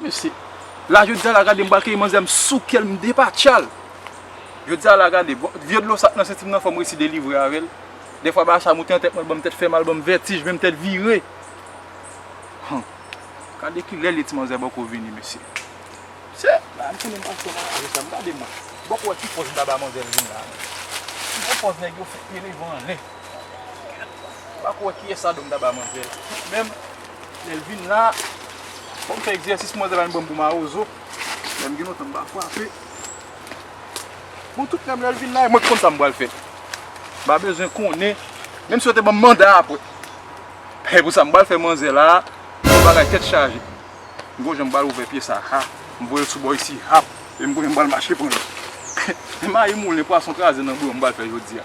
Mesi. La jodia la gade m pral keyi manzè m soukel m depatchal. Jodia la gade bon vye dlo sa k nan sentim nan fòm resi delivre avèl. Dèfwa bagay sa moute nan tèt mwen l banm tèt fèmal banm vètij menm tèt vire. Hum. Gade kilè li ye ti manzè bòkò vini mesye. Mesye. Bagay m konnen m pa fè nan lari sa m gade m. Bòkò wè ki pòz m ta ba manzè l vini la menm. Ki bon pòz nèg yo fè pye devan anlè. Pa ko wè kiyès sa dom ta ba manzè la. Menm lèl vin la fòm fè egzèsis manzè la vin banm pou mawozo. Menm gen lontan m pa fwape. Bon tout menm lèl vin la mwen ki konn sam pral fè. M pa bezwen konnen. Menm si yo te banm manda apre. He pou sam pral fè manzè la. Bon bagay tèt chaje. M gon janm pral ouvè pye sa ha. M voyel sou bò isi hap. E m konnen m pral mache pranl. He mayi moulen pwason kraze nan bouyon m pral fè jodia.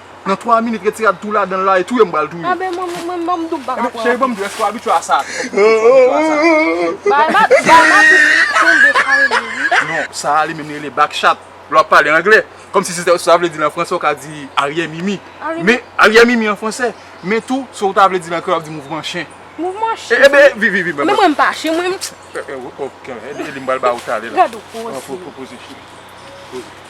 Nan 3 minit retirad tou ladanl la e touye m pral touye. Anben mwen menm banm doum paka pran. Cheri banm dou eske w abitye a sa tou. Bay ma tou tonbe kare li wi. Non sa li menm li rele back chat. Lè wap pale angle. Kòm si sa vle di an fransè ou ka di aryè mimi. Men aryè mimi an fransè. Men tou sa ou ta vle di an kreyòl wap di mouvman chen. Mouvman chen. Enben vini vini vini. Men mwen m pa chen mwen. Ede m pral ba ou talè la. Gad ou poze. Poze cheri.